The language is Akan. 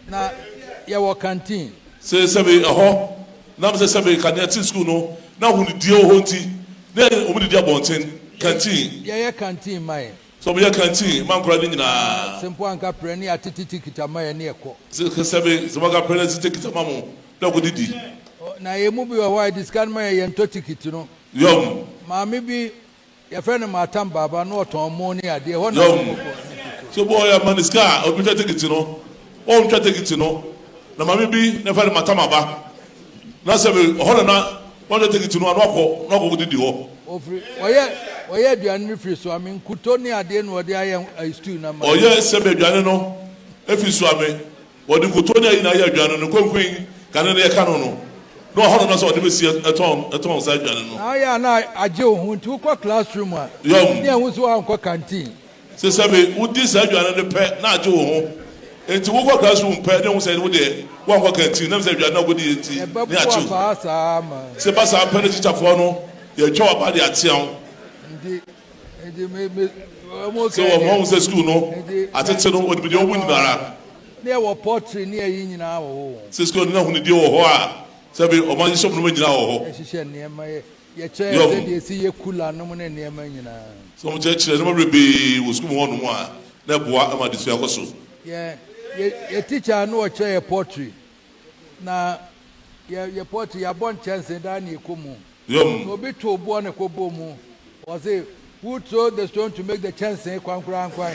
Na yɛwɔ canteen. Sɛ sɛbe ɛhɔ nam sɛ sɛbe ka nea ɛte sukuu no na ahonidie wɔ hɔ nti na wɔdidi abɔnten, canteen. Yɛyɛ canteen ma yɛn. So wɔyɛ canteen ma nkwadaa no nyinaa? Sɛ mpo anka prɛ ne ate tete kita ma yɛn ne ɛkɔ. Sɛ sɛbe sɛ wɔka prɛ ne ate tete kita ma mo na ɛkɔ didi. Na yɛn mu bi wɔ hɔ a yɛde sika no ma yɛn yɛntɔ tikiti no. Yom. Maame bi. Yɛfrɛ no Maatam Baaba, na ɔtɔn mo ne adeɛ. Ɛhɔ na Yom, Nkokoɔ ne Nkokoɔ. So boɔ yɛ ma no sika a obi twa tekiti no wɔn ntwa tekiti no na maame bi na yɛfrɛ no Matam aba na sɛ me hɔ na na watwa tekiti no a na wakɔ na wakɔ kɔ didi hɔ. Ɔfiri ɔyɛ ɔyɛ aduane no firi Soame nkuto ne adeɛ na ɔde ayɛ stew na ma yɛn. Ɔyɛ sɛbe aduane no firi Soame Wɔde nkotoo ne ayi na ayɛ aduan no, ne konkoe kane no yɛka no no na wɔahɔ no na sɛ wɔde bɛsi a tɔn saa aduan no. Na ayɛ a na agye wo ho nti wokɔ classroom a ne ɛho nso woankɔ canteen. Sɛ sɛ me wodi saa aduan no pɛ na agye wo ho nti wokɔ classroom pɛ ne ɛho sɛ wo deɛ woankɔ canteen na ɛm sɛ aduan no a wokɔdi yɛ nti ne akye wo. Sɛ ɛba saa pɛ na tikyafoɔ no yɛtwa waba de atea wo. Sɛ wɔn ho sɛ sukuu no atete no wɔde bi deɛ wɔn nyinaa ara. Ne ɛwɔ pɔtri ne ɛyi nyinaa wɔ hɔ. Sɛ sukuu no na ahunidie wɔ hɔ a sɛ bi wɔn ahyehyɛ wɔn nneɛma nyinaa wɔ hɔ. Ɛhyehyɛ nneɛma yɛ yɛkyerɛ yɛ sɛdeɛ esi yɛ kula nom ne nneɛma nyinaa. Sɛ wɔn kyerɛkyerɛ nneɛma bebree wɔ sukuu mu hɔ nom a na ɛboa ma adesua kɔ so. Yɛ yɛ yɛ tikya no ɔkyerɛ yɛ pɔtri Na yɛ yɛ pɔt yɛabɔ nkyɛnse daa na yɛkɔ mu. Sɛ obi tow boɔ na ɛkɔbɔɔ mu, wɔse, Who throw the stone to make the kyɛnse kwankwankwan?